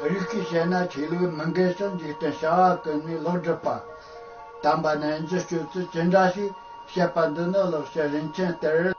བོད་ཡིག་གིས་བཤད་ན་ཆོས་ལུགས་མི་འགལ་ཕྱིར་འཇིག་རྟེན་བྱ་བ་ཀུན་ནས་ལོག་སྒྲུབ་པ། དམ་པ་རྣལ་འབྱོར་སྤྱོད་ཚུལ་ཅི་འདྲ་ཞིག་བཤད་པ་འདི་ནི་ལོག་བཤད་རིན་ཆེན་གཏེར།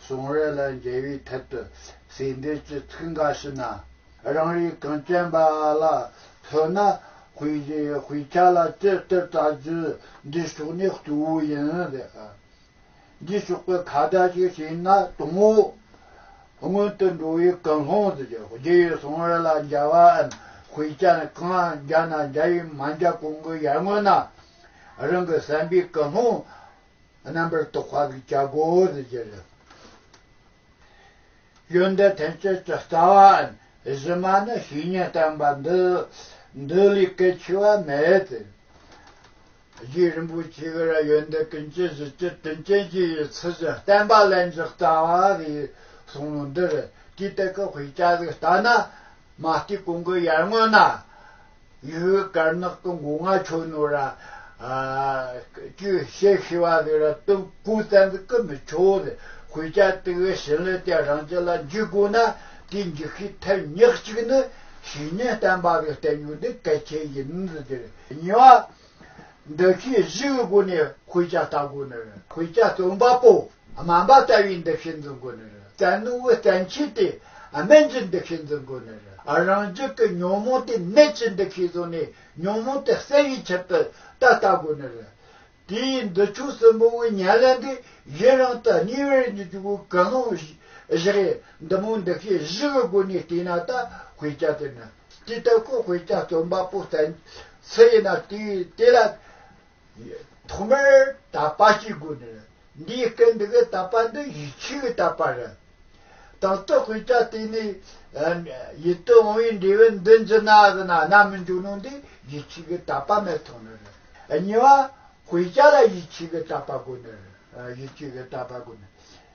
གཟུང་རེ་ལ་འབྲེལ་བའི་ཐད་དུ་ཟེར་འབྲེལ་གྱི་ཚིག་འགའ་ཞིག་ན་རང་རིག་དོན་སྟོན་པ་ལ་མཚོན་ན་དཔེ་བཞི་དཔེ་ཆ་ལ་ཅི་ལྟར་བལྟ་རྒྱུ་འདི་ཕྱོགས་ནས་གཙོ་བོ་ཡིན། འདིའི་ཕྱོགས་ཀྱི་ཁ་བརྡ་ཞིག་བྱས་ན་དང་བོ་སྔོན་དུ་འགྲོ་བའི་ཀུན་སློང་དུ་གྱུར་རྗེས་ཡི་གཟུང་རེ་ལ་འཇལ་བའམ་དཔེ་ཆ་ནི་གང་འཇལ་ན་འཇལ་ཡི་མ་འཇལ་གོང་གི་ཡར་སྔོན་ན་རང་གི་བསམ་པའི་ཀུན་སློང་རྣམ་པར་རྟོག་པ་གི་རྒྱ་སྒོ་ནས་བརྒྱད་ལས། ཡོན་ཏན་ཐམས་ཅད་ཀྱི་རྩ་བའམ་གཞི་མ་ནི་བཤེས་གཉེན་བསྟན་པ་འདི། འདི་ལས་གལ་ཆེ་བ་མེད་དེ། རྗེ་རིན་པོ་ཆེ་ཀྱི་ར་ཡོན་ཏན་ཀུན་གྱི་གཞི་སྤྱི་དོན་ཅན་གྱི་ཡི་ཚུལ་བཞིན་བསྟན་པ་ལན་གཅིག་རྩ་བ་གི་གསུང་ལུང་འདི་རེད་ཀྱི་སྟེ་ཀུ་ཧུད་ཅག་གིས་ལྟ་ན། མ་ལྟོས་གོང་གི་ཡར་སྔོན་ན། ཡུལ་བོད་དཀར་ནག་གི་མགོ་རྔ་ཆོས་ནོར་ར་སྤྱོད་བཤད་ཤི་བ་ལས་ར་སྟོན་ཀུན་བཙན་གྱི་ཀུན་མི་ཆོག་ལས་གོས་ཅག་དེ་བས་ཞིང་ལས་དེ་རང་ཅག་ལ་འཇུག་དགོས་ན་དེ་འཇུག་ཤི་ཐལ་ཉག་ཅིག་ནི་བྱས་ཉེས་བསྟན་པ་ལས་བསྟན་ཉོ་དེ་གལ་ཆེ་ཡིན་འདི་དེར་ཉེ་བ་འདི་ཤེས་བཞི་གི་སྒོ་ནས་གོས་ཅག་བལྟ་དགོས་ནི་གོས་ཅག་བཙོན་པ་པོ། སྨན་པ་རྩ་བའི་འདུ་ཤེས་འཛིན་དགོས་ནི་རེད་རྩལ་ནུས་པའི་བརྟན་ཆོས་དེ་སྨན་གྱི་འདུ་ཤེས་འཛིན་དགོས་ནི་རེད་རང་རྒྱུད་ཀྱི་ཉོན་མོངས་དེ་ནད་ཀྱི་འདུ་ཤེས་བཟུང་ནས་ཉོན་མོངས་དེ་བསལ་བའི་ཕྱིར་དུ་ད་ལྟ་དགོས་ནི་རེད། དེའི་འདི་ཆོས་གསུམ་པོ་བའི་ཉེར་ལེན་འདི་གཞི་རང་དུ་གཉིས་པའི་རིགས་འདི་ཆོས་ཀྱི་ཀུན་སློང་བཞི་རེད་འདི་མོའི་འདུ་ཤེས་བཞི་གི་སྒོ་ནས་བལྟས་ན་ད་བྷེ་ཅཱ་དེ་ནི་དེ་ལྟ་ཁོ་བྷེ་ཅཱ་རྩོམ་པ་པོ་བསྟན་སྲིད་ཡིན་ན་དེས་དེ་ལ་ཐོག་མར་དག་པ་གཅིག་དགོས་ནས་འདིའི་སྐད་འདི་གའི་དག་པ་འདི་ཡིད་ཆེས་ཀྱི་དག་པ་རེད། དང་ཏོག་གི་ཆ་དེ་ནི། ཡིད་དུ་འོང་བའི་འབྲས་བུ་འདི་འཛིན་ན་གཟིགས་ན་རྣམ་སྨིན་འབྱུང་ནོ་འདི་ཡིད་ཆེས་ཀྱི་དག་པ་མེད་ཐོག་ནས་རེད། གཉིས་པ། གོས་ཆ་ལ་ཡིད་ཆེས་ཀྱི་དག་པ་དགོས་ནས་རེད། ཡིད་ཆེས་ཀྱི་དག་པ་དགོས་ནས།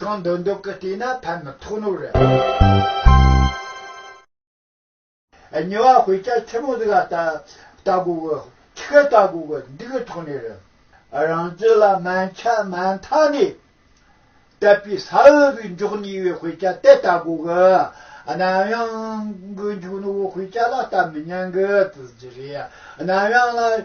གང་འདོད་འདོད་ཀྱི་བལྟས་ན་ཕན་མི་ཐོགས་ནོ། ཉེ་བར་བོད་སྐྱ་ཆེན་མོ་ཟིག་ལ་བལྟ་དགོས་ཀྱི་ཁྱི་ཁ་བལྟ་དགོས་ཀྱི་འདི་གི་ཐོག་ནས་རེད། རང་རྒྱུད་ལ་མ་འཆ་མ་མཐའ་ནས་དད་པའི་ས་འོས་པའི་མགྱོགས་ནས་བའི་བོད་སྐྱ་དེ་བལྟ་དགོས་ཀྱི་གནམ་དབྱངས་ཀྱི་འཇུག་ནོར་བོད་སྐྱ་ལ་བལྟ་མི་ཉན་གྱི་རེད་གནམ་དབྱངས་ལ།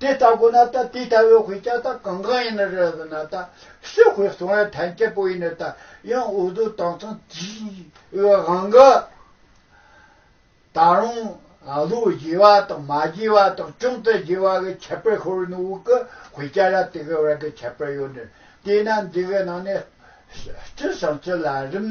དེ་ལྟ་གོ་ན་ད་དེ་ལྟ་བུའི་ཁོའི་ཅག་ད་གང་གང་ཡིན་ན་རེད་ཟེར་ན་ད་སུས་ཁོའི་གསུང་བའི་ཐན་སྐྱེད་པོ་ཡིན་ན་ད་ཡང་འུ་དུ་དང་ཚང་དེའི་བའི་དབང་གི། ད་རུང་ལུས་བགྱི་བ་དང་མ་བགྱི་བ་དང་ཅུང་ཙི་བགྱི་བ་གི་ཁྱད་པར་ཤོར་ནི་འུ་གི་ཁོའི་ཅག་ལ་དེ་གི་བར་གི་ཁྱད་པར་ཡོད་ནི་དེས་ན་འདི་གི་ནང་ནས་སྤྱི་བྱང་སྤྱི་ལ་རིམ།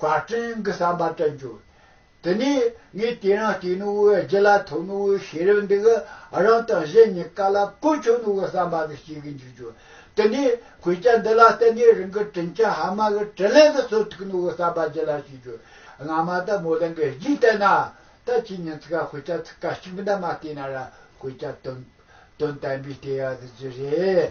བཀའ་དྲིན་གྱི་བསམ་པ་བསྟན་བཅོས། དེ་ནས་ངས་དེ་རིང་བལྟས་ནས་འོའི་རྒྱུ་ལ་ཐོས་ནས་འོའི་ཤེས་རབ་འདི་གི་རང་དང་གཞན་གཉིས་ཀ་ལ་ཀུན་ཆོད་ནོ་གི་བསམ་པ་འདི་སྐྱེ་གི་འཇུག་བྱུང། དེ་ནས་གོས་རྐྱ་འདི་ལ་བལྟས་ནས་རིང་གི་དྲིན་ཆེན་ཧ་མ་གི་དྲིན་ལན་འདི་ཚོ་ཐུག་ནོ་གི་བསམ་པ་ཅི་ལ་སྐྱེ་འགྱུར། སྔ་མ་ལྟར་མོ་གླིང་གི་གཞིས་བལྟས་ན། ད་ཁྱེད་ཉིན་ཚིག་ག་གོས་རྐྱ་ཚིག་ག་གཅིག་པུ་འདྲ་མ་བལྟས་ན་ར་གོས་རྐྱ་དོན་དོན་བསྟན་པའི་ལྟས་ཡག་འདི་ཅི་རེད།